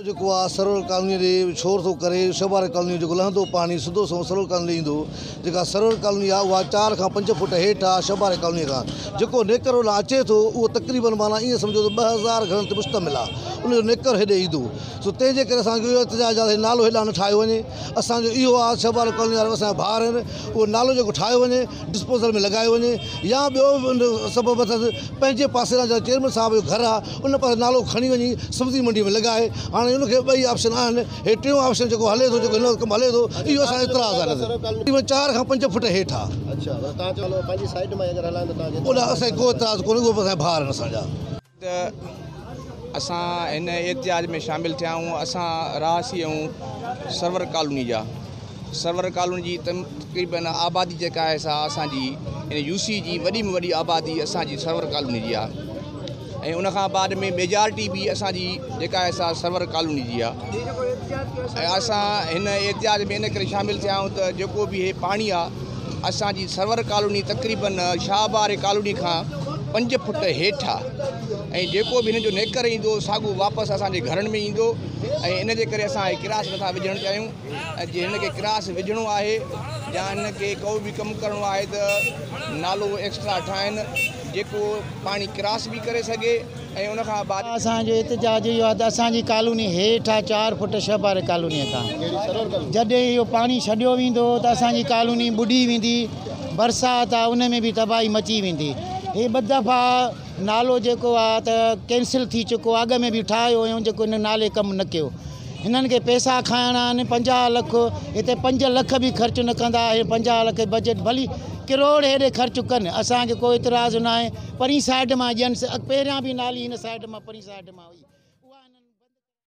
اهو جيڪو آهه سرور ڪالونيء ڏي ڇور ٿو ڪري، شهباري ڪالونيء جو جيڪو لهندو پاڻي سڌو سنئون سرور ڪالونيء ڏي ايندو. جيڪا سرور ڪالوني آهه اها چار کان پنج فوٽ هيٺ آهه شهباري ڪالونيء کان. جيڪو نيڪر هولان اچي ٿو اهو تقريبن معنيٰ ايئن سمجهو ته ٻه هزار گهرن تي مشتمل آهه ان جو نيڪر هيڏي ايندو. سو تنهن جي ڪري اسان جو اهو احتجاج آهه ته هي نالو هيڏانهن نه ٺاهيو وڃي. اسان جو اهو آهه ته شهباري ڪالونيء وارا اسان جا ڀائر آهن اهو نالو جيڪو ٺاهيو وڃي. ڊسپوزل ۾ لڳايو وڃي يا ٻيو سبب اٿس پنهنجي پاسي جا چيئرمين صاحب جو گهر آهي ان پاسي نالو کڻي وڃي سبزي منڊي ۾ لڳائي هاڻي ان کي ٻئي آپشن آهن هي ٽيون آپشن جيڪو هلي ٿو جيڪو هن ڪم هلي ٿو اهو اسان جو اعتراض آهي تقريبن چار کان پنج فٽ هيٺ آهي ان اسان جو ڪو اعتراض ڪونهي اهو اسان جا ڀاء آهن اسان جا ته اسان هن احتجاج ۾ شامل ٿيا آهيون، اسان رهاسي آهيون سرور ڪالوني جا، سرور ڪالوني جي تقريبن آبادي جيڪا آهي سا اسان جي يعني يو سي جي وڏي ۾ وڏي آبادي اسان جي سرور ڪالوني جي آهي ۽ ان کان بعد ۾ ميجارٽي به اسان جي جيڪا آهي سا سرور ڪالوني جي آهي ۽ اسان هن احتجاج ۾ ان ڪري شامل ٿيا آهيون ته جيڪو به هي پاڻي آهي اسان جي سرور ڪالوني تقريبن شاهه بهار ڪالوني کان پنج فٽ هيٺ آهي ۽ جيڪو به هن جو نيڪر ايندو ساڳو واپس اسان جي گهرن ۾ ايندو ۽ ان جي ڪري اسان هي ڪراس نٿا وجهڻ چاهيون ۽ جي هن کي ڪراس وجهڻو آهي يا هن کي ڪو به ڪم ڪرڻو آهي ته نالو ايڪسٽرا ٺاهن جيڪو پاڻي ڪراس به ڪري سگهي ۽ ان کان بعد. اسان جو احتجاج اهو آهي ته اسان جي ڪالوني هيٺ آهي چار فٽ ڇهه پاري ڪالوني کان جڏهن اهو پاڻي ڇڏيو ويندو ته اسان جي ڪالوني ٻڏي ويندي برسات آهي ان ۾ به تباهي مچي ويندي هي ٻه دفعا نالو جيڪو آهي ته ڪينسل ٿي چڪو آهي اڳ ۾ به ٺاهيو هيون جيڪو هن نالي ڪم نه ڪيو هنن کي پيسا کائڻا آهن پنجاهه لک هتي پنج لک به خرچ نه ڪندا هي پنجاهه لک بجيٽ ڀلي ڪروڙ هيڏي خرچ ڪن اسان کي ڪو اعتراض ناهي پرين سائيڊ مان ڄڻس اڳ پهريان به نالي هن سائيڊ مان پرين سائيڊ مان هئي.